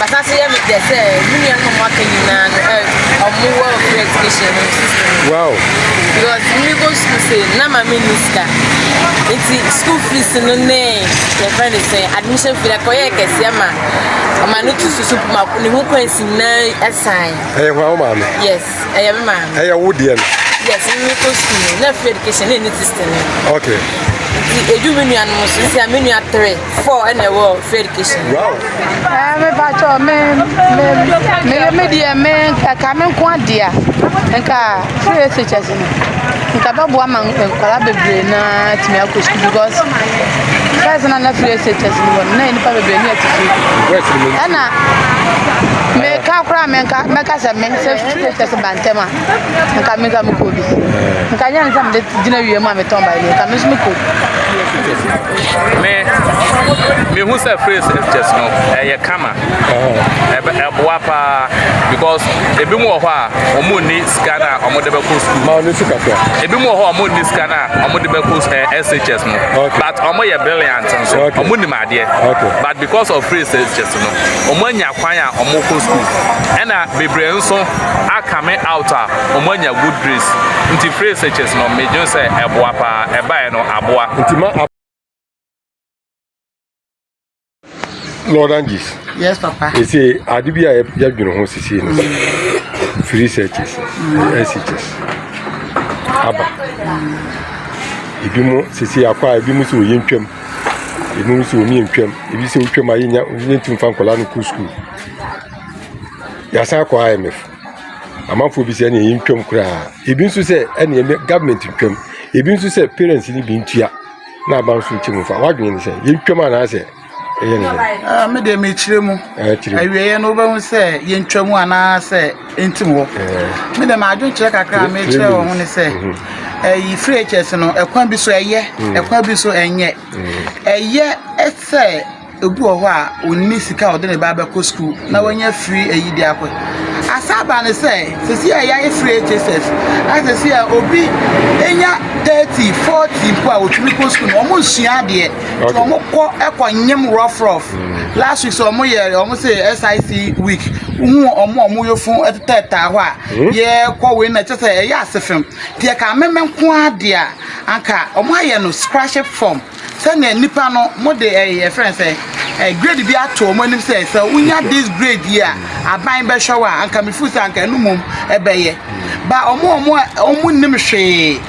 Basa so yɛ me dɛ sɛ mo nuanom a ɔmo aka nyinaa no ɛ ɔmo wɔ free education no system no. Wow. Because me go school say na ma me ni sika. Nti school fees no ne yɛ fɛ ne sɛ admission fee ɛkɔ yɛ kɛseɛ ma ɔma no tu susu ma ne ho kwansi nyinaa ɛsan. Ɛyɛ hɔ awo maame. Yes, ɛyɛ me maame. Ɛyɛ wo deɛ no. Yes, me go school no na free education ne ne system no. Okay. Nti edu me nuanom so nti a me nua three. Four ɛna ɛwɔ free education. Wow. Ɛɛ eh, mi ba tɔ mi mi mi mi deɛ mi ɛka mi nko adeɛ nka free education si mi nka bɛ bu ama nkɔla bebree naa tumi akɔ sukuu because first na na free education si mi wɔ mi na yɛ nipa bebree ni ɛti fi. Ɛna mi ka kura mi nka mɛ ka sɛ mi sɛ free education si ba ntɛm a nka mi ka mi kɔ bi nka nyɛ nsɛm de gyina wie mu a mi tɔn ba yi nka mi nso mi kɔ. me mehu sɛ phrase just no ɛyɛ kama ɛboa paa because ebi mu wɔ hɔ a wɔn nni sika no a wɔde bɛkɔ sukuu ma ɔne sika kɔ ebi mu wɔ hɔ a wɔn nni sika no a wɔde bɛkɔ shs no but wɔn yɛ brilliant nso wɔn nim adeɛ but because of phrase just no wɔn anya kwan a wɔn kɔ sukuu ɛna bebree nso akame out a wɔn anya good grades nti phrase just no medwene sɛ ɛboa paa ɛbaeɛ no aboa. Nti ma a. Lord Angie. Yes, Papa. They say, I did be a young home to see three searches, SHS. Abba. Ebi mu sisi akwa ebi mu si oye ntwam ebi mu si omi ntwam ebi si otwam ayi nya ntumi fa nkɔla no kuru sukuu yasan akɔ IMF. Amanfoɔ bi sɛ ɛneɛ yɛntwam koraa Ebi nso sɛ ɛneɛ ne government ntwam Ebi nso sɛ parents no bi ntua na aba nso nkyɛ mu fa W'adwene ne sɛ yɛntwam anaasɛ ɛyɛ ne sɛ Me deɛ mekyerɛ mu awieɛ no wobɛhu sɛ yɛntwam anaasɛ ɛntim hɔ Me deɛ m'adwene kyerɛ kakra a mekyerɛ wɔ ho ne sɛ ɛyi free HS no ɛkwan bi so ɛyɛ ɛkwan bi so ɛnyɛ ɛyɛ sɛ Obi wɔ hɔ a ɔnni sika a ɔde ne ba bɛkɔ sukuu na wanya firi ayi de akɔ. Asan aba ne sɛ, sisi a yɛayɛ firi HSS, a sisi a obi nya 30, 40 mpo a ɔtumi kɔ sukuu no, wɔn nsua adeɛ. Nti wɔn kɔ ɛkɔ nyem rough rough. Mm. Last week sɛ wɔn yɛ wɔn sɛ SIC week, wohu wɔn a wɔn yɛ fun ɛtetɛtaa hɔ a, mm. yɛkɔ wei na kyɛ sɛ ɛyɛ ase fam. Deɛ ka ameme nko ara deɛ a, anka wɔn ayɛ no scratch form. Sɛnea nnipa no mo de ɛɛ yɛfrɛ no sɛ ɛɛ grade bi ato wɔn anim sɛ sɛ wonya this grade yi a aban bɛhwɛ wo a anka me feel sɛ anka ɛno mmom ɛbɛyɛ ba wɔn a wɔn wɔn nnim hwee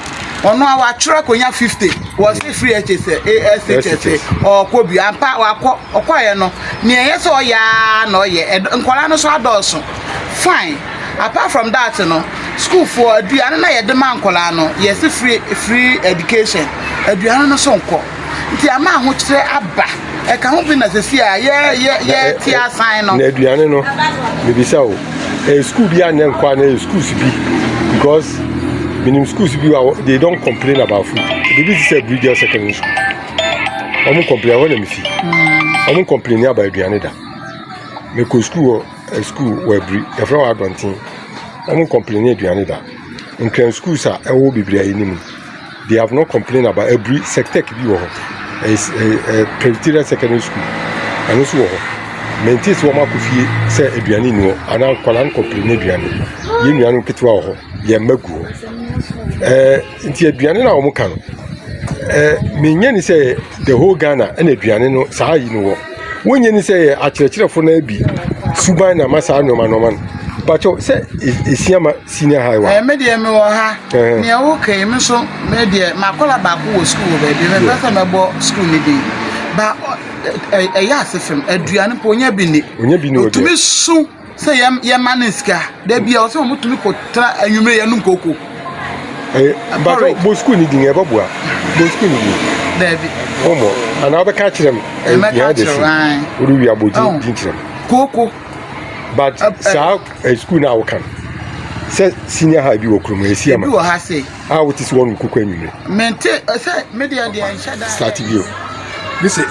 ɔno a watwerɛ akɔnya fifty wɔsi free HS SHS ɔɔkɔ bi ampa wakɔ ɔkɔɛ no nea ɛyɛ sɛ ɔyɛ ara na ɔyɛ nkɔla no so adɔɔso fine. Apart from that no, school foɔ aduane na yɛde ma nkwadaa no, yɛsi free free education, aduane no so nkɔ. Nti ama ahokyerɛ aba. Ɛka ho bi na sisi a yɛ yɛ yɛ ti asan no. Na aduane no, mebisa o, ɛyɛ school bi a na nkɔ a na ɛyɛ schools bi because minim schools bi wa they don't complain about food. Bibi ti sɛ Bridgel secondary school. Wɔn complain ɛhɔ na mesi. Wɔn complain about aduane da. Mekɔ school hɔ. Sukuu wɔ abiri yɛfrɛ wɔ adɔnten ɔmo nkɔmpleni aduane da ntwɛn sukuus a ɛwɔ hɔ bebree a yɛnim de hav nɔ kɔmplen aba abiri sɛktɛk bi wɔ hɔ ɛɛ pɛritira sɛkɛndri sukuul ɛno nso wɔ hɔ mɛnti sɛ ɔmo akɔ fie sɛ aduane nni hɔ anaa nkɔla nkɔmpleni aduane yɛn nua no nketewa wɔ hɔ yɛn mma gu hɔ ɛɛ. Nti aduane no a wɔn ka no, eh, menyɛ ni sɛ the whole Ghana ɛna aduane no saa yi no wɔ. Wonyɛ ni sɛ yɛ akyerɛkyerɛfo no bi suban na ma saa nneɛma nneɛma no. Bakyɛw sɛ esia ma senior high wa. Eh, me deɛ me wɔ ha. Eh. Nea woka yi me so me deɛ makɔla baako wɔ sukuu wɔ baabi. Me pɛ sɛ mɛbɔ sukuu ne din. Ba ɛyɛ ase fam aduane po nya bi ni. Nya bi ni. Otumi su sɛ yɛ yɛma ne sika da bi a ɔsɛ wɔn tumi kɔ tra anwumire yɛ nom koko. ɛyɛ bàtɔ bɔ sukuu ni din ɛbɛ bua bɔ sukuu ni din. dɛbi. wɔn mɔ anaa ɔbɛ ká kyerɛ mu. ɛmɛ ká kyerɛ mu ayi. o de wi abɔ din din kyerɛ mu. koko. but saa ɛ sukuu náà ɔkan sɛ senior high bi wɔ kurom ɛsi ɛma. ebi wɔ ha se. a o ti si wɔn koko anwumire. mente ɛsɛ mi deɛ deɛ nhyɛ da. start bi o. bi se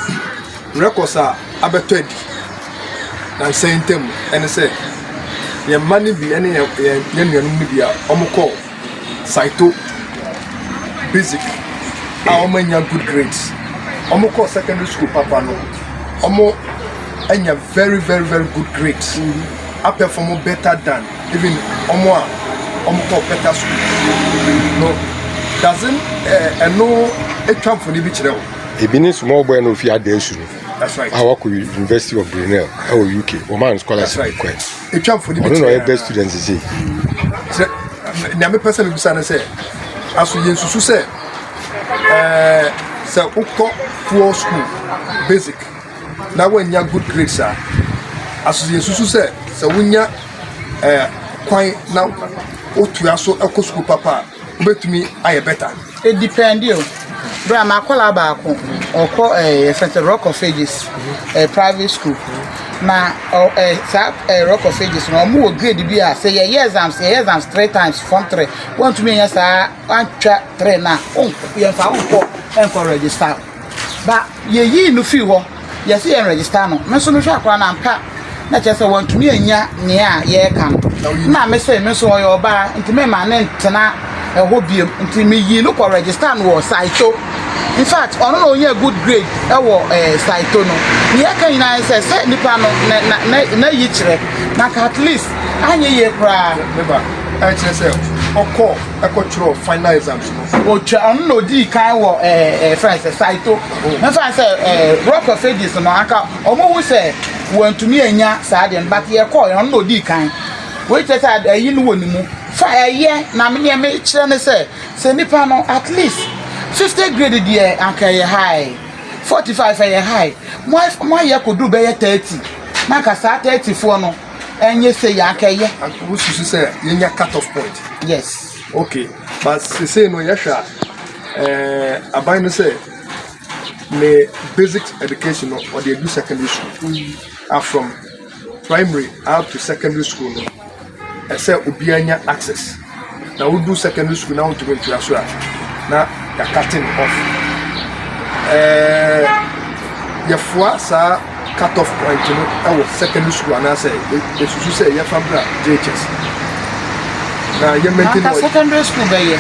records a abɛtɔ adi. nnansa yi ntam ne sɛ, yɛn mma no bi ne yɛn nuanom no bi a wɔkɔɔ Saito Basic a wɔannya good grades. Wɔkɔɔ secondary school papa no, wɔanya very very very good grades. Mm-hmm. Apɛfɔm better than even wɔn a wɔkɔɔ better school. No, doesn't ɛno eh, etwa mfoni bi kyerɛ o. Ebi ne small boy na ofi ada esu no. a wakɔ University of Brunel ɛwɔ UK wɔmaa no scholarship bi kɔɛ ɔno na ɔyɛ best student sisi. nea mepɛ sɛ mebisa no sɛ aso yɛnsusu sɛ ɛɛ sɛ wokɔ poor school basic na woannya good grades a aso yɛnsusu sɛ sɛ wonya ɛɛ kwan na wotua so ɛkɔ sukuu papa a Wobɛtumi ayɛ better. It depend o, berɛ a m'akwadaa baako ɔkɔ ɛɛ eh, yɛfrɛ sɛ Rock of Ages ɛɛ eh, private school na ɔ ɛɛ eh, saa ɛɛ Rock of Ages no wɔn wɔ grade bi a sɛ yɛyɛ exams yɛyɛ exams three times form three wɔntumi nyɛ saa antwa three na yɛnfa wɔn kɔ ɛnkɔ register. Ba yeyii no fii hɔ, yɛse yɛn register no, me nso mehwɛ akwadaa no ampa na kyerɛ sɛ wantumi annya nea yɛreka no, na mese me nso ɔyɛ ɔbaa nti memma ne ntena ɛhɔ biom nti meyii no kɔ register no wɔ Saito, infact ɔno na ɔnyaa good grade ɛwɔ eh, Saito no. Nea ɛka nyinaa ne sɛ, sɛ nipa no na, na, na, na yi kyerɛ, na nka at least anyɛ yie koraa. Me ba, ɛkyerɛ sɛ ɔkɔ ɛkɔtwerɛ final exam. Wɔtwa ɔno na odii kan wɔ ɛɛ eh, ɛɛ eh, fɛn sɛ Saito. Mɛfa oh. sɛ ɛɛ eh, Rock of Ages no anka wɔn hu sɛ wɔntumi anya saa deɛ no but yɛkɔ yɛn ɔno na odii kan. Wei kyerɛ sɛ ɛyi no wɔ ne mu. Fa ɛyɛ na me nneɛma kyerɛ ne sɛ sɛ nipa no at least fifty grade deɛ anka ɛyɛ high forty five ɛyɛ high mo mo ayɛ kodu bɛyɛ thirty na anka saa thirty foɔ no ɛnyɛ sɛ yɛ anka ɛyɛ. Wosusu sɛ yɛnya cut off point. Yes. Ok but sesei no yɛhwɛ a eh, aban no sɛ ne basic education no ɔde adu secondary school mm. a ah, from primary up to secondary school no ɛsɛ obiara nya access na wodu secondary school na wontumi ntoa so a na yɛakate no off eh, yɛfoa saa cut off point no wɔ secondary school anaasɛ yɛsusu sɛ yɛmfa mbra JHS na yɛ maintain anka secondary school bɛyɛ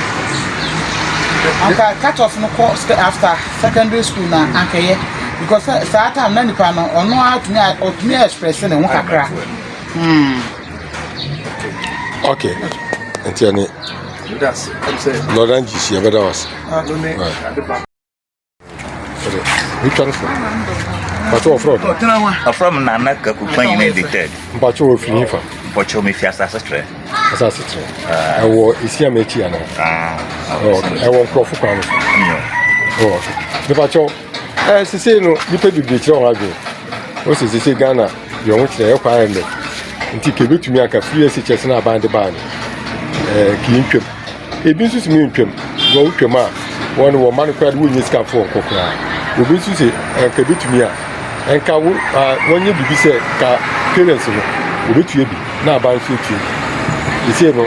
anka cut off no kɔ after secondary school na mm. anka yɛ because saa time na nipa no ɔno atumi ɔtumi express ne ho kakra mm. okay nti ɛne lɔra ngyisi ɛbɛda wase Richard Ford. Mpatsɔ wɔfrɛ ɔdɔ. Ɔfrɛ m Nana Kakupa nyina de tɛd. Mpatsɔ wɔfiri yi fa. Mpatsɔ mefi asase trɛ. Asase trɛ. Ah. Ɛwɔ Isiam akyi anaa? Ah, ɛwɔ nkurɔfo kwan no so. Mpatsɔ ɛɛ sese no nipa bebree kyerɛ wɔn adwene. Wɔsi sese Ghana deɛ wɔn kyerɛ ɛkɔ ayɛ nnɛ. Nti kebetumi aka free SHS na aban de baa no ɛɛ kii ntwam. Ebi nso se me ntwam, na wotwam a wɔn wɔn mma no koraa de wonnya sika mfa wɔn kɔ koraa. Obi nso se anka ebetumi a nka wo wɔnyɛ biribi sɛ ka parents no obetua bi na aba nso etua bi. Sesei no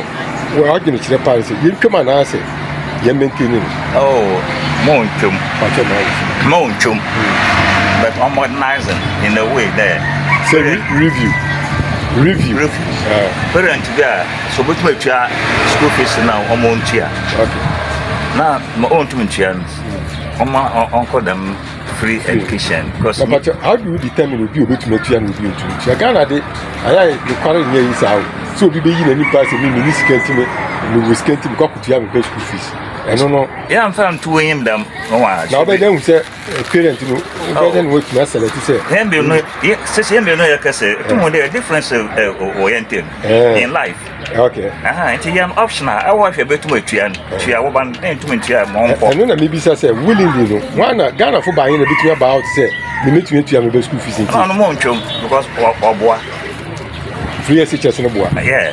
wɔadwene kyerɛ paa sɛ yɛntwam anaasɛ yɛn maintain no. Oh, mo ntwam. Pakyɛ na ayɛ. Mo ntwam. Hmm. But I'm modernizing in a way there. Say review. Review. Review. Uh, parent bi a Sɛ obetumi atua sukuu fees no a wɔn ntua na ma ɔntum ntua no wɔn a ɔnkɔ dɛm free education. Papa how do you determine obi obetumi atua na obi ntumi ntua Ghana de ayɛ nokware nyɛ yi saa o sɛ obi bɛyi n'ani pa sɛ mi mi ni sika ntumi mi wɔ sika ntumi kɔ akutua mi bɛ sukuu fees ɛno no. Yɛn nfa ntuo yɛn dɛm. Na ɔbɛn dɛn hu sɛ. parent no bɛ dɛ na watumi asɛlɛte sɛ yɛn mmienu yɛ sisi yɛn mmienu yɛ kɛse etum eh. dɛ difference eh, eh, wɔ yɛn ntɛm in life okay nti yɛn option a ɛwɔ ahwɛ bɛtum atua no tua wɔba no dɛn tum ntua mɔ nkɔ ɛno na mebisa sɛ willingly no wana ghana fo baayɛ na bɛtumi aba out sɛ memetumi atua mebɛ school fees nti ɔno mo ntwam because ɔboa free ɛsi kyɛse no boa yeah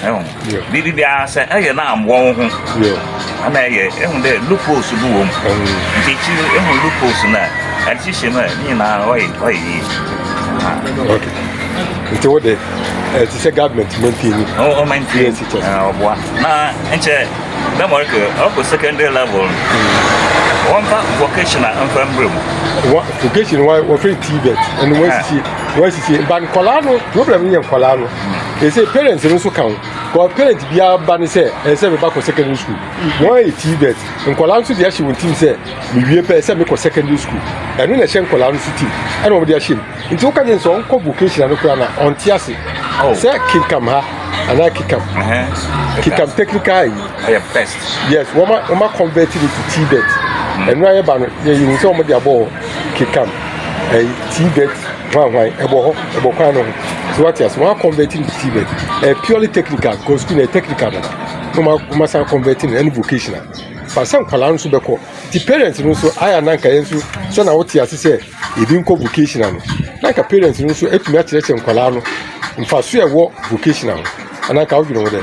Ehu. Yeah. Biribi biara sɛ ɛyɛ na amoa wo ho. Yeah. Ana ɛyɛ ehu dɛ loopholes bi wɔ mu. Um. Nti akyiri ehu loopholes na ɛde hyehyɛ mu a ne nyinaa ɔyɛ ɔyɛ yie. Okay. Nti wo de ɛte sɛ government maintain ni. Ɔ ɔ maintain. Yes teachers. Ɛɛ ɔboa na nkyɛ dɛ mo ɔkɛ ɔkɔ secondary level. Wɔn ba vocational nfa mbere mu. Vocational wɔfɛ tii bɛt ɛnu wɔn sisi. wɔn asisi ba nkɔlaa no problem no yɛ nkɔlaa no ɛsɛ mm. parents no nso ka ho kɔ parent biara ba ne sɛ ɛsɛ meba kɔ secondary school mm. wɔn ayɛ tii bet nkɔlaa nso de ahyɛ wɔn tim sɛ mewie pɛ ɛsɛ mekɔ secondary school ɛno na ɛhyɛ nkɔlaa no so tim ɛna wɔn de ahyɛ mu nti woka ne sɛ ɔnkɔ vocational no koraa na ɔnte ase oh. sɛ kinkam ha anaa kikam kikam technical yi yes wɔn a wɔn akɔnvɛt no to tibet ɛnu ayɛ ba no yɛ yiwu sɛ wɔn de abɔ hɔ kekam ɛyi tibet hwanhwan ɛbɔ hɔ ɛbɔ kwan no ho so wate ase wɔn akɔnvɛt no to tibet ɛyɛ purely technical because school no yɛ technical dada wɔn wɔn asan akɔnvɛt no ɛne vocational baasa nkwadaa no nso bɛkɔ ti parents no nso ayɛ ananka yɛn nso sɛ na wɔte ase sɛ ebi nkɔ vocational no nanka parents no nso atumi akyerɛkyerɛ nkwadaa no mfaso ɛwɔ vocational ho ananka wodwene ho dɛ.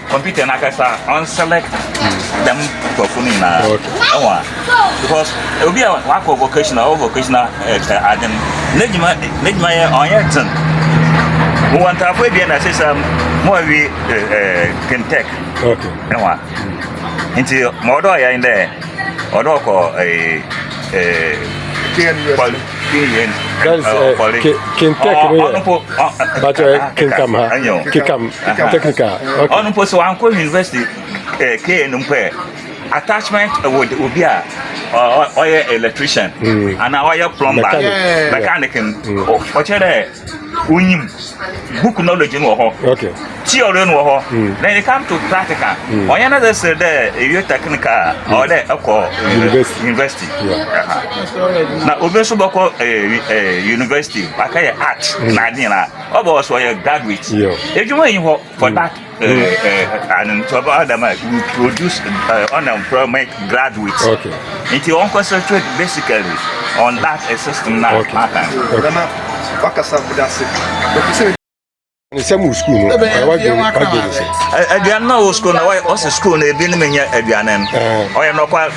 Computer no akasa on select dɛm nkorɔfo no nyinaa ɛwɔ a because obi a wakɔ vocational ɔwɔ vocational eh, eh, ade no n'adwuma n'adwuma yɛ ɔnyɛ ten wɔ ntaafo ebien na ɛsɛ sɛ mo awi kentɛk ɛwɔ a nti ma ɔdɔ ɔyɛ dɛ ɔno ɔkɔ ɛɛ ɛɛ ɔno mpo sɛ wankɔ university ɛɛ kn mpo ɛ attachment wɔ obi a ɔyɛ electrician anaa ɔyɛ plumber mechanic ɔkyerɛ dɛ. wonyim book knowledge no wɔ hɔ okay theory no wɔ hɔ mm. then you come to practical mm. ɔnyɛ na sɛ dɛ ewie technical a mm. ɔwɔ dɛ ɛkɔ eh, university na obi nso bɔkɔ eh, eh, university wakɛyɛ art na ade nyinaa ɔbɔ ɔsɛ ɔyɛ graduate adwuma yi hɔ for that uh, an Adam will produce uh, unemployment graduates. Okay. And you won't concentrate basically on that system now. Okay. okay. nsɛm wɔ sukuu no wadwe ne sɛ aduane no wɔ sukuu no ɔsɛ sukuu no ebi no menyɛ aduane no ɔyɛ nɔkwa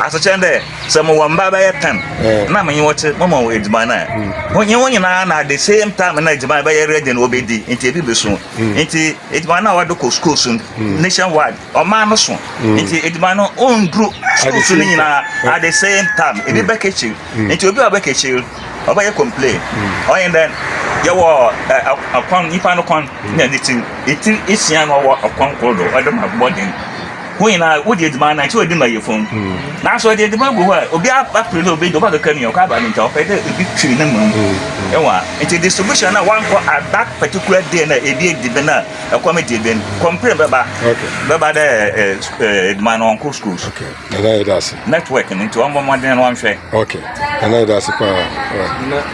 asekyɛ dɛ sɛ mowɔ mba bɛyɛ pɛm na menye wɔte mama wɔ adwuma no a wonye wo nyinaa na the same time na adwuma bɛyɛ ready na wɔbɛdi nti ebi bɛsu mm. nti edwuma no a wɔde kɔ schools no mm. nationwide ɔman no so mm. nti edwuma no ɔnduru schools no nyinaa at the same time ebi bɛ kɛkyiri nti obi a ɔbɛ kɛkyiri ɔbɛyɛ complain ɔyɛ dɛ yɛwɔ ɛkwan nipa no kwan na ne ti etiri esia na ɔwɔ ɔkwan koro do ɔde ma bɔden. Hɔn nyina wodzi edziban na nkyɛ ɔdze ma yarfo no. Naaso ɔdze edziban gu hɔ a, obi aper dɛ obedzi, ɔbɔkɛka nua, ɔkɔ aba no ntsi ɔpɛ dɛ obi twe no ma no. Ewa. Ntsi distribution na wɔannkɔ at that particular day na ebi edzi ben a, kɔm edzi ben. Complain bɛba, bɛba dɛ edziban no ɔnnkɔ schools. Okay, Nana yɛda ase. Network no ntsi ɔmbɔ mbɔdzen na ɔnhwɛ. Okay, Nana yɛda ase paa.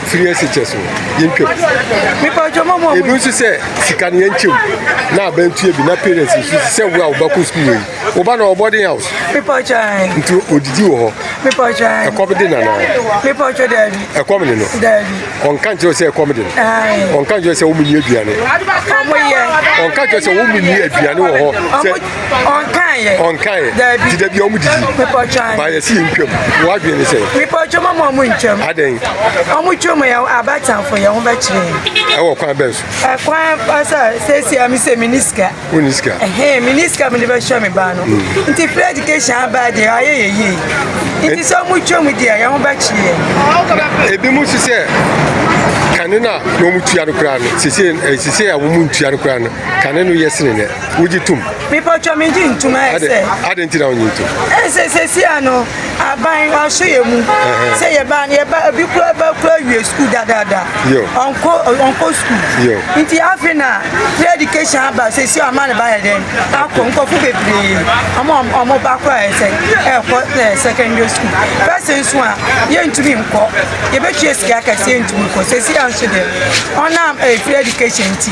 firi ase kyɛ so yɛntwam ebi nso sɛ sika no yɛnkyɛm na abɛntua bi na parents nso sɛ wo a wobɛkɔ sukuu wei woba na ɔbɔden house nti ɔdidi wɔ hɔ ɛkɔm de nanaa ɛkɔm de no ɔnka nkyerɛ sɛ ɛkɔm de no ɔnka nkyerɛ sɛ womenni aduane ɔnka nkyerɛ sɛ womenni aduane wɔ hɔ ɔnkaeɛ ɔnkaeɛ daabi ti daabi ɔmo didi mepɔtwan ba yɛsi yɛn twam wadwene ne sɛ mepɔtwa mo ma ɔmo ntwam adɛn ɔmo twam yɛ abatamfo yɛn ho bɛkyerɛ ɛwɔ kwan bɛn so ɛkwan sɛ sɛsi a mesɛ mene sika wone sika ɛhɛn mene sika mede bɛhyɛ me ba no mm. nti free education abaa deɛ ayɛ yɛ yie nti sɛ ɔmo twam deɛ yɛn ho bɛkyerɛ ebi mu si sɛ kane no a na ɔmo tua no koraa no sese eh, a wɔn ntua no koraa no kane no yɛ sene nɛ wogye tom. mepɔtwɔ megye ntom ayɛ sɛ adɛn nti na wonye ntom ɛsɛ sɛsia no aban ɔso yɛ mu sɛ yɛba no yɛba obi kura ba kura wie sukuu dadaada ɔnkɔ ɔnkɔ sukuu nti afe na free education aba sɛsi ɔma ne ba yɛ dɛn akɔ nkɔfo bebree ɔmo ɔmo ba kora yɛ sɛ ɛkɔ ɛ secondary school fɛsɛ nso a yɛntumi nkɔ yɛbɛtua sika kɛse yɛntumi nkɔ sɛsi anso dɛ ɔnam ɛfiri education nti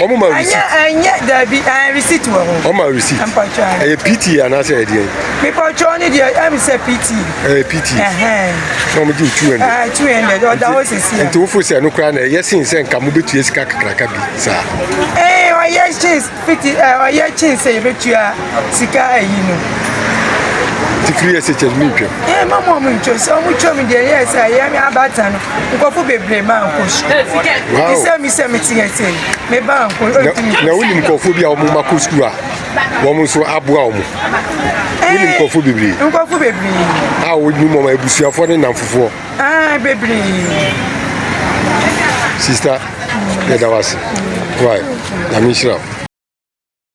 wɔn ma receipt. ɛnyɛ dabi ɛn receipt wɔ ho. wɔn ma receipt. mpɔtɔ ayɛ. ɛyɛ pt anaasɛ ɛdeɛ yi. mipɔtɔ ne deɛ ɛmi sɛ pt. ɛyɛ pt. na wɔn gye two hundred. ɛɛ two hundred ɔda hɔ sisi a. nti wofo sɛ ɛno koraa na ɛyɛ sen sɛ nka mo betua sika kakraka bi saa. ɛɛ ɔyɛ kyen fiti ɛɛ ɔyɛ kyen sɛ ebetua. Sika ayi no. Ti firi ɛsɛ kyɛ mi ntwam. Ee ma mo ɔmo ntwam sɛ ɔmo twam deɛ yɛ sɛ yɛ mi abata no nkɔfo bebree ma nkɔ su. Ti sɛ mi sɛ mi ti yɛ sɛ mi ba nkɔ ɔtumi. Na wonim nkɔfo bi a ɔmo ma kɔ sukuu a wɔn nso aboa ɔmo. Wonim nkɔfo bebree. Nkɔfo bebree. A wonim ɔmo abusuafoɔ ne nnamfofoɔ. Aa bebree. Sista yɛ da wase. Why? Na mi nhyira.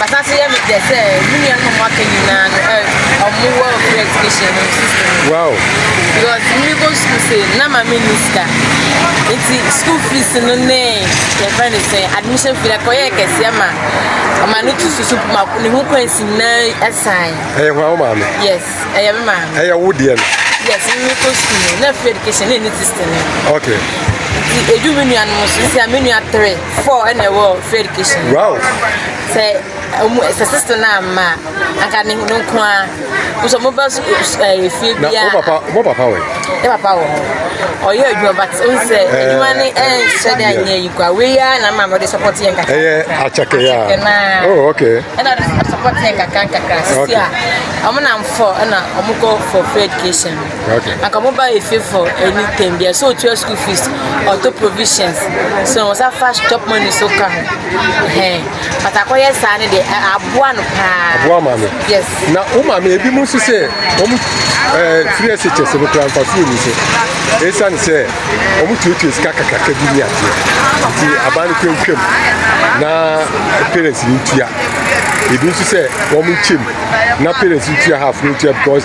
Masan so yɛ me dɛ sɛ mo nuanom a mo aka nyinaa no ɛ ɔmo wɔ free education no system no. Wow. Because me go school say na ma me ni sika. Nti school fees no ne yɛ fɛ ne sɛ admission fee na kɔ yɛ kɛseɛ ma ɔma no tu susu ma ne ho kwan si na ɛsan. Ɛyɛ hwa wo maame? Yes, ɛyɛ me maame. Ɛyɛ wo deɛ no? Yes, me go school no na free education ne ne system no. Okay. Nti edu me nuanom so nti a me nua three. Four ɛna ɛwɔ free education. Wow. Sɛ ɔmo sɛ sisi naa mma anka ne no nko ara nso ɔmo ba ɛɛ fie bi a. Na mo papa mo papa wɔ yi. Ne papa wɔ hɔ ɔyɛ adwuma but n sɛ eh, adwuma ne ɛnhyɛ eh, de anyɛ yi kwa wei ya na maa mo de support yɛn kakra. Ɛyɛ eh, akyɛkɛ ya. Akyɛkɛ naa. Oh okay. Ɛna ɔde support yɛn kakra kakra sisi a ɔmo na nfɔ ɛna ɔmo kɔ for free education. Anka mo ba yɛ favour anytime bia sɛ ɔtua school fees ɔtɔ provisions sɛ wɔn sa fa chop money so ka ho hɛn but akɔyɛ saa no deɛ aboa no paa aboa maame yes na wo maame ebi mu nso sɛ wɔn ɛɛ firi ɛsɛ kyɛ sɛ no kura nfa so emu so esiane sɛ wɔn tuatua sika kakraka bi ni adeɛ nti aban no kura ntwam na parents ni ntua ebi nso sɛ wɔn nkyɛm na parents ntua half no ntua because.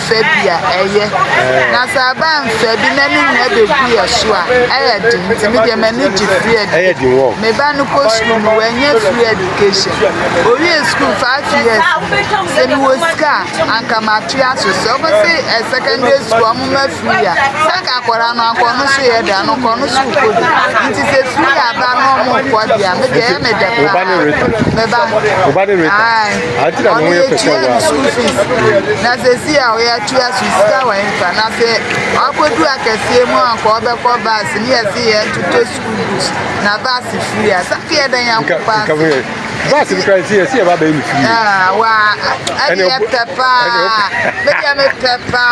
fɛ bi a ɛyɛ na sɛ aba mfɛ bi na ne nyinaa bɛgu yɛ so a ɛyɛ den nti me deɛ m'ani gye free education me ba no kɔ sukuu no wanya free education owie sukuu five years sɛ mewɔ sika a anka matoa so sɛ ɔmo se ɛ eh, secondary school ɔmo ma free a sɛ anka akɔra no anka ɔno so yɛ da no kɔ no so kɔ bi nti sɛ free aba no ɔmo kɔ deɛ me deɛ ɛyɛ me dɛ paa me ba Ade na ne ho yɛ pɛ sɛ wa. School fees. Na sɛ si a ɔyɛ atua so sika wɔ nfa. Na sɛ ɔakɔdu akɛseɛ mu a nka ɔbɛkɔ baase ne yɛse yɛ toto school books na baase free a sɛ yɛ dɛ nyanko paa. Nka yɛ baase bi kora si yɛ si yɛ ba bɛyɛ me free. Ah, wa ɛne yɛ pɛ paa. Bɛdi yɛ me pɛ paa.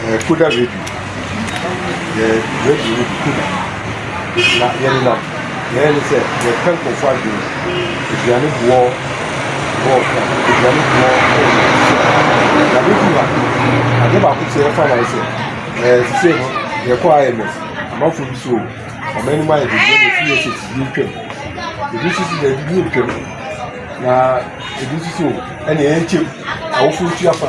Yɛɛ Koda Radio, yɛɛ Radio no bi Koda, na yɛnenam yɛyɛ ne sɛ yɛka nkurɔfoɔ adwene, aduane boɔ wɔ aduane boɔ wɔ na bɛduru ha adeɛ baako sɛ yɛfa no ayɛ sɛ ɛɛ sisei no yɛkɔ IMF amanfoɔ bi so wɔn anim ayɛ de deɛ na ɛfiri yɛ sɛ tibie ntwam ebi nso so daabi bi ntwam na ebi nso so ɛna ɛnkyɛm awofoɔ tua fa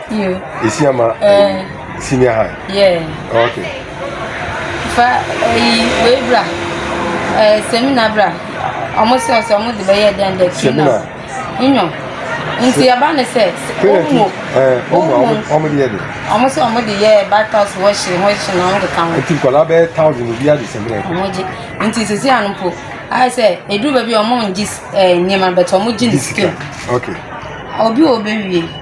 Yo. Esi ama eh, senior high. Yeah. Okay. Fa eyi eh, wei bra. Eh seminar bra. Ọmụ sị ọsọ ọmụ dị bẹyẹ dẹn dẹ. Seminar. Nyọ. Nti yaba ne sɛ ɔmo ɔmo ɔmo de yɛ de. Ɔmo sɛ ɔmo de yɛ batas wɔhyɛ ho hyɛ na ɔmo de ka ho. Nti nkɔla bɛyɛ thousand obi adi sɛ mmerɛ. Ɔmo gye nti sisi ano mpo ayɛ sɛ eduru baabi ɔmo ngye ɛɛ nneɛma bɛtɛ ɔmo gye ne sika. Okay. Obi wɔ bɛ wie.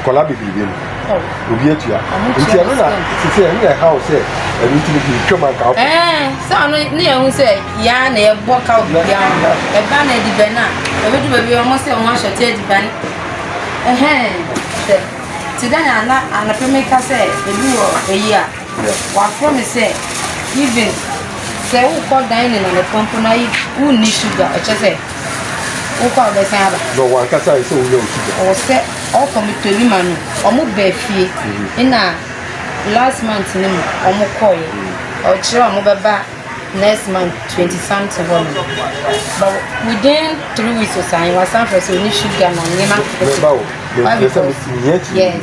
nkɔla bebrebe no obi atua nti ɛno na sisi ɛno na ɛha wo sɛ ɛno nti no bi twam anka wofo sɛ ɔno ne yɛhu sɛ yɛa na yɛbɔ ka wo bibia ho ɛba na adibɛn a ɛbɛdu baabi ɔmo sɛ ɔmo ahyɛte adibɛn ɛhɛn sɛ te dɛn ana anapɛ meka sɛ ebi wɔ ayi a Hwɛ, wɔafrɛ me sɛ, even sɛ wokɔ dining anɔpa mpo na wonni sugar, ɛkyɛ sɛ wokɔ a wobɛsan aba. Na wɔn ankasa ayɛ sɛ wonya wo sugar. Ɔwɔ sɛ ɔkɔ me Tolima no, wɔn baa fie. Mm-hmm. Ɛna last month no mu wɔn kɔɔɛ. Mm-hmm. Ɔkyerɛ wɔn bɛba next month twenty something hɔ no. But within three weeks ɔsan, wɔasan frɛ sɛ ɔne sugar na nneɛma. Mɛba o. Mɛba o. Yes.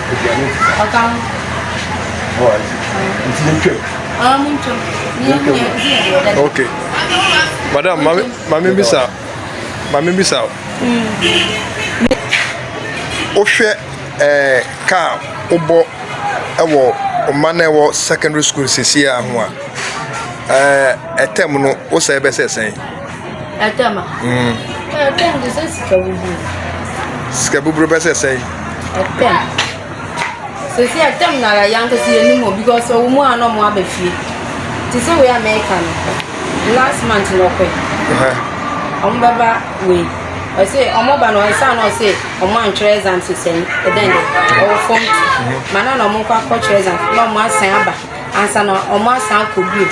Aduane nsa. Ɔka ho. Ɔ ase. Nti yɛ twam. Ɔ mo ntwam. Yɛ twam. Yɛ nti yɛ deɛ dada. Okay. Madam, mami mami bisa mami bisa. Wohwɛ ɛɛ kaa wobɔ ɛwɔ ɔman na ɛwɔ secondary school sisi a ho a ɛɛ ɛtɛm no wosɛ ɛbɛsɛ sɛn. Ɛtɛm a. Ɛɛ ɛtɛm te sɛ sika buburo. Sika buburo bɛ sɛ sɛn? Ɛtɛm. Sisi ɛtɛm na ara yɛn ankasa yɛn nim o because ɔwɔ mu a na ɔmo aba fie. Te sɛ wei America no. Last month na ɔkɔɛ. Ɔmo bɛba wei. Ɔse ɔmo ba no ɛsan na ɔse ɔmo antwerɛ exam sisɛn ɛdɛn dɛ ɔwɔ fam. Mana na ɔmo kɔ akɔtwerɛ exam na ɔmo asan aba. ansa na ɔmo asan akɔ bio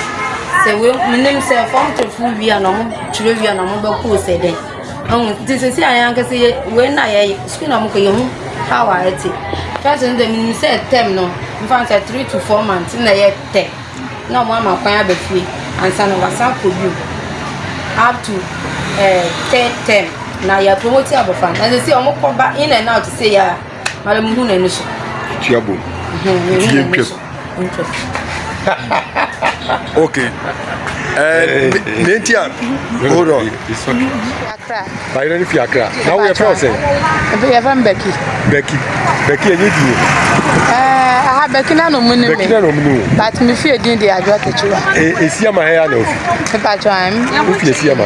sɛ wei menim sɛ fɔm tofo wie a na ɔmo twerɛ wie a na ɔmo bɛkɔ sɛ dɛn ɛho nti sisi a yɛn ankasa yɛ wei na yɛ sukuu na ɔmo kɔ yɛ ho how a ɛte fɛs no dɛ menim sɛ tɛm no nfa sɛ three to four months na yɛ tɛ na ɔmo ama kwan aba fie ansa na wasan akɔ bio up to ɛɛ eh, tɛ tɛm na yɛ promote abɔfra na sisi ɔmo kɔ ba in and out sɛ yɛ a mara mo hu n'ani so. tuabo nti yɛ ntwam. okay. Eh, nenti a hold on. Bayerɛ no fi akra. Na woyɛ fɛ sɛ? Yɛ fɛ Becky. Becky. Becky ɛnyɛ di yɛ. Eh, aha Becky na no mu ni mi. Becky na no mu ni o. But mi fi edin de adwa ketewa. Eh, esia ma hɛ ya na ofi. Pepa twa mi. Ofi esia ma.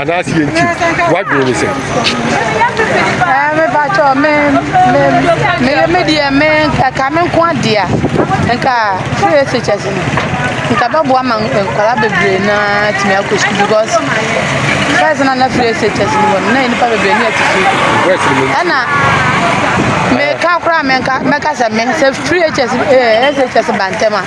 anaasɛ yɛ nti woadwene ne sɛ mepakyɛ meyɛ medeɛ me ɛka me nko adea nka free shs no nka bɛboa ma nkwara bebree no atumi akɔ sukuu because first na na free shs no wɔ no na nnipa bebree ne atifi ɛna meka koraa mɛka sɛ me sɛ free shs eh, bantam a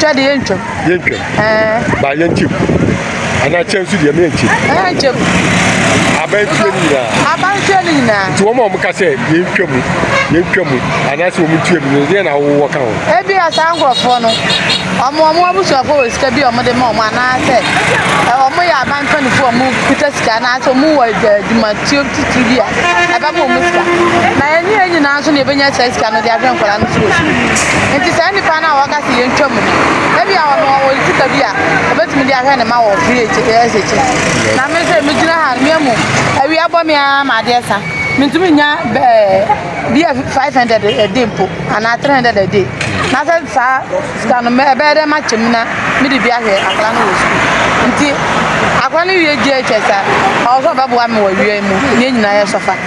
Twɛ de yɛntwam. Yɛntwam. Ɛɛ. Ba yɛnkyem. Anaa kyɛn nso deɛ mɛnkyem. Ɛnkyem. Abantuo no nyinaa. Abantuo no nyinaa. Nti wɔn a wɔn ka sɛ yɛntwa mu yɛntwa mu anaasɛ wɔn ntua mu no deɛ na wɔwɔ ka ho. Ebi a saa nkorɔfoɔ no wɔn wɔn abusuafoɔ wɔ sika bi a wɔn de ma wɔn anaasɛ wɔn yɛ abankanfoɔ a wɔn kuta sika anaasɛ wɔn wɔ adwumatuo titiri bi a ɛbɛma wɔn sika. Na yɛn nyinaa nso na yɛbɛnya saa sika no de ahwɛ nkwadaa no so wɔ sukuu. Enti saa nipa no a waka sɛ yɛntwa mu no, ebia ɔno ɔwɔ ne sika bi a obetumi de ahwɛ ne mma wɔ bere a ɛkyɛ ɛsɛ akyi. Na me nso migyina ha no, miamu, awia abɔ me ara ma ade asa. Mintumi nnya bia five hundred a day mpo anaa three hundred a day. Na sɛ saa sika no ɛbɛyɛ dɛ makyɛ mu na mede bi ahwɛ akwadaa no wɔ sukuu. Nti akwadaa no wie JHS a, ɔwɔ sɛ ɔbɛboa me wɔ awia yi mu na yɛn nyinaa yɛsɔfa.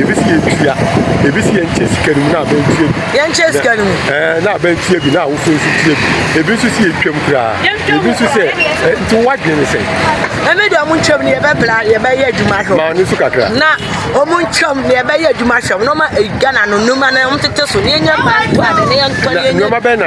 ebi si yɛn tua ebi si yɛn kyɛ sika no mu na abɛn tua bi yɛn kyɛ sika no mu ɛɛ na abɛn tua bi na awofo nso tua bi ebi nso si yɛn twam koraa ebi nso sɛ ɛ nti wadwene ne sɛ. ɛmi deɛ ɔmo ntwam ne yɛbɛbla yɛbɛyɛ adwuma hwɛ maa ne so kakra na ɔmo ntwam ne yɛbɛyɛ adwuma hwɛ ɔmo na ɔma ghana no nneɛma na ɔmo tete so ne yɛnyɛ maa ntoa de ne yɛn tɔ ne yɛnyɛ nneɛma bɛn na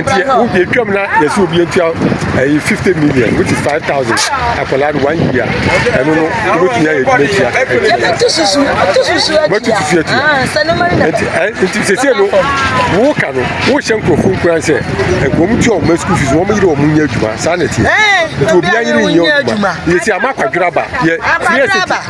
nti wohwɛ twam na yɛsɛ obi ntua ɛyi eh, fifty million which is five thousand akwadaa no one year ɛno no wobɛtumi ayɛ adwuma tua wobɛtu susu atua nti eh, sɛsɛ no woka no wohyɛ nkurɔfo nkuran sɛ eh, wɔm tua wɔma school fees wɔm yere wɔm nyɛ adwuma saa na ɛteɛ nti obiaa yere nyɛ adwuma yɛsi ama akwadwerɛ aba yɛ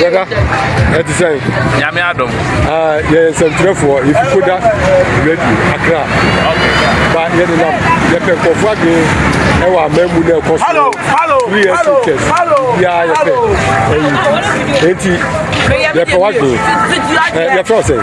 brɔda ɛte sɛn nyame adom ah, yɛyɛ nsɛmtwerɛfoɔ yɛfi koda radio akra ba yɛde nam yɛpɛ nkurɔfoɔ adwene ɛwɔ aman mu na ɛkɔ so three years to test biaa yɛpɛ ɛyi enti yɛpɛ w'adwene yɛfrɛ wo sɛn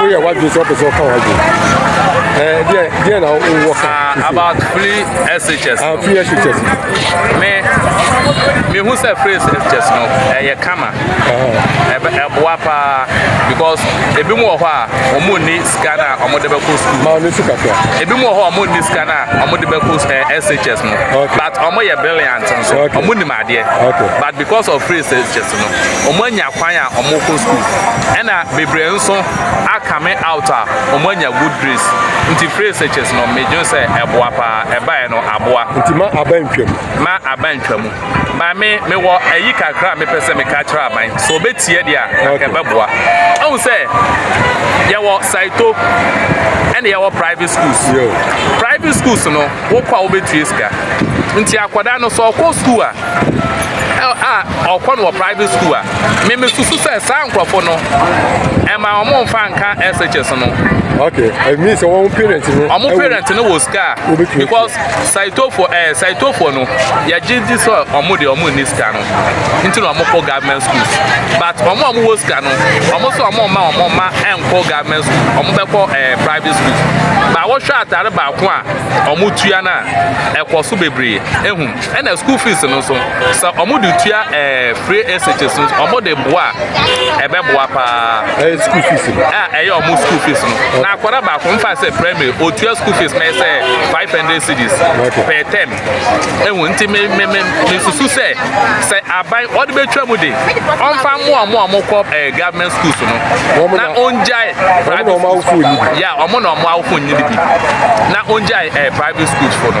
woyɛ w'adwene sɛ wopɛ sɛ ɔka w'adwene deɛ deɛ na wowɔ ka ah, about free shs ah, free shs me mehu sɛ free shs no ɛyɛ kama ɛboa paa because ebi mu wɔ hɔ a wɔn nni sika no a wɔde bɛkɔ sukuu maa ne sika kura ebi mu wɔ hɔ a wɔn nni sika no a wɔde bɛkɔ shs no but wɔn yɛ brilliant nso wɔn nim adeɛ but because of free shs August no, wɔanya kwan a wɔkɔ school. Ɛna bebree nso akame out a wɔanya good grades. Nti free searches no, medwen sɛ ɛboa paa. Ɛbaeɛ no, aboa. Nti ma aba ntwa mu. Ma aba ntwa mu. Ba me, mewɔ ayi kakra a mepɛ sɛ meka kyerɛ aban. Sɛ wɔbɛtie deɛ a, anka ɛbɛboa. Ahu sɛ, yɛwɔ Saito, ɛna yɛwɔ private schools. Private schools no, wokɔ a wobɛtua sika. Nti akwadaa no, sɛ ɔkɔ school a, a ɔkɔ no wɔ private school a meme susu sɛ saa nkurɔfo no ɛma wɔn mfa nka SHS no. okay it means wɔn parent no. wɔn parent no wɔ sika because saitofo ɛɛ eh, saitofo no yɛgye di sɛ wɔn de wɔn nni sika no nti na wɔn kɔ government schools but wɔn a wɔn wɔ sika no wɔn so wɔn mma wɔn mma ɛnkɔ government school wɔn bɛkɔ ɛɛ eh, private school ba wɔhwɛ atare baako a wɔn tua no a ɛkɔ so bebree ehun. Ɛna school fees no nso sɛ ɔmo de tua ɛɛ free SHS no ɔmo de boa a ɛbɛ boa paa. Ɛyɛ school fees no. A ɛyɛ ɔmo school fees no. Na akɔda baako nfa sɛ primary otua school fees mɛ sɛ five hundred cedis per term. Ehu nti me me me me susu sɛ sɛ aban ɔde bɛ twa mu de ɔnfa mo ɔmo ɔmo kɔ ɛɛ government schools no. Na ongyae private schools. Ya ɔmo na ɔmo awofo nyi ne bi. Na ongyae ɛɛ private schools fo no.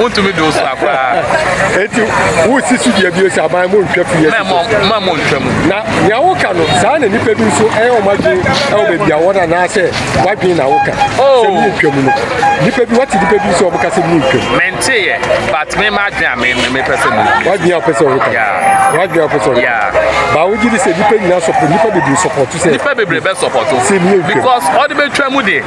wontumi de osu akoraa. eti wosi so dua bio sɛ aban mo ntwa fi yɛ. mma mo ntwa mu. na nea woka no saa na nipa bi nso ɛyɛ wɔn adwene ɛwɔ baabi a wɔn anaasɛ wadwene na woka oh. sɛ mo ntwa mu no nipa bi wate nipa bi nso wɔn ka sɛ mo ntwa mu. mente yɛ but me ma adwene a me me pɛ sɛ mo. wadwene a pɛ sɛ wɔn ka. wadwene a pɛ sɛ wɔn ka. baawo gyi ni sɛ nipa nyinaa sɔpɔ nipa bebree sɔpɔtu sɛ. nipa bebree bɛ sɔpɔtu. sɛ mi yɛ ntwa mu. because ɔde bɛ twa mu de.